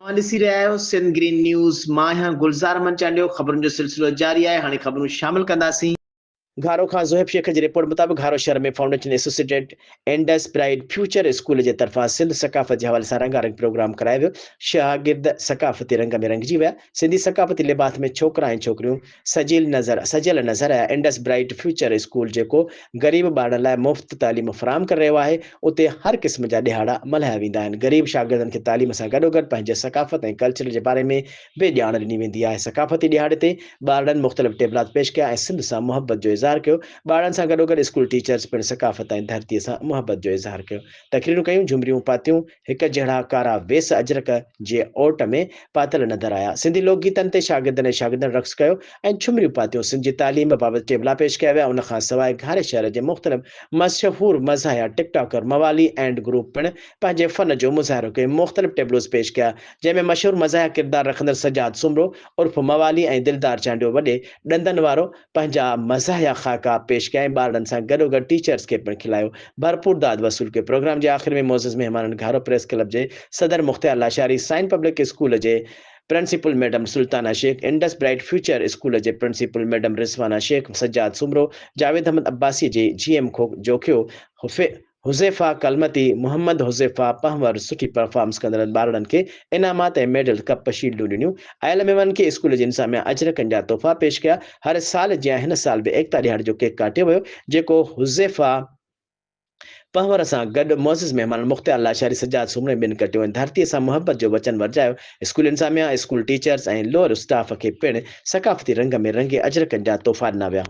اوهان ڏسي رهيا آهيو سنڌ گرين نيوز مان آهيان گلزار احمد چانڊيو خبرن جو سلسلو جاري آهي هاڻي خبرون شامل ڪنداسين. گهارو کان زوهيب شيخ جي رپورٽ مطابق گهارو شهر ۾ foundation associated Indus pride future school جي طرفان سنڌ ثقافت جي حوالي سان رنگا رنگ پروگرام ڪرايو ويو شاگرد ثقافتي رنگ ۾ رنگجي ويا سنڌي ثقافتي لباس ۾ ڇوڪرا ۽ ڇوڪريون سجيل نظر، سجيل نظر يا انڊس برائيٽ فيوچر اسڪول جيڪو غريب ٻارڙن لاء مفت تعليم فراهم ڪري رهيو آهي، اتي هر قسم جا ڏيهاڙا ملهايا ويندا آهن، غريب شاگردن کي تعليم سان گڏوگڏ پنهنجي ثقافت ۽ ڪلچر جي باري ۾ به ڄاڻ ڏني ويندي آهي، ثقافتي ڏيهاڙي تي ٻارڙن مختلف ٽيبلات پيش ڪيا ۽ سنڌ سان محبت جو اظهار ڪيو، ٻارڙن سان گڏوگڏ اسڪول ٽيچرز پڻ ثقافت ۽ ڌرتي سان محبت جو اظهار ڪيو، تقريرون ڪيون، جهمريون پاتيون، هڪ جهڙا ڪارا ويس اجرڪ جي اوٽ ۾ پاتل نظر آيا. سنڌي لوڪ گيتن تي شاگردن ۽ شاگردن رقص ڪيو ۽ ڇمريون پاتيون. سنڌ جي تعليم بابت ٽيبلا پيش ڪيا ويا. ان کان سواء گهاري شهر جي مختلف مشهور مزاحيه ٽڪ ٽاڪر موالي اينڊ گروپ پڻ پنهنجي فن جو مظاهرو ڪيو مختلف ٽيبلوز پيش ڪيا جنهن ۾ مشهور مزاحيه ڪردار رکندڙ سجاد سومرو عرف موالي ۽ دلدار چانڊيو وڏي ڏندن وارو پنهنجا مزاحيه خاڪا پيش ڪيا ۽ ٻارڙن سان گڏوگڏ ٽيچرز کي پڻ کلايو. ڀرپور داد وصول ڪيو. پروگرام جي آخر ۾ معزز مهمانن گهارو پريس ڪلب جي صدر مختيار لاشاري، سائين پبلڪ اسڪول جي principal madam Sultana Shaikh, Indus bright future school جي پرنسپل ميڊم رضوانه شيخ، سجاد سومرو، جاويد احمد عباسي جي جي ايم کوک جوکيو، حذيفه ڪلمتي، محمد حذيفه پنهور سٺي پرفارمنس ڪندڙن ٻارڙن کي انعامات ۽ ميڊل، ڪپ، شيلڊون ڏنيون. آيل مهمانن کي اسڪول جي انتظاميا اجرڪن جا تحفا پيش ڪيا. هر سال جيان هن سال به ايڪتا ڏهاڙي جو ڪيڪ ڪاٽيو ويو، جيڪو حذيفه پنهور سان گڏ معزز مهمانن مختيار لاشاري، سجاد سومري ٻين ڪٽيو ۽ ڌرتيء سان محبت جو وچن ورجايو. اسڪول انتظاميا، اسڪول ٽيچرز ۽ لوئر اسٽاف کي پڻ ثقافتي رنگ ۾ رنگي اجرڪن جا تحفا ڏنا ويا.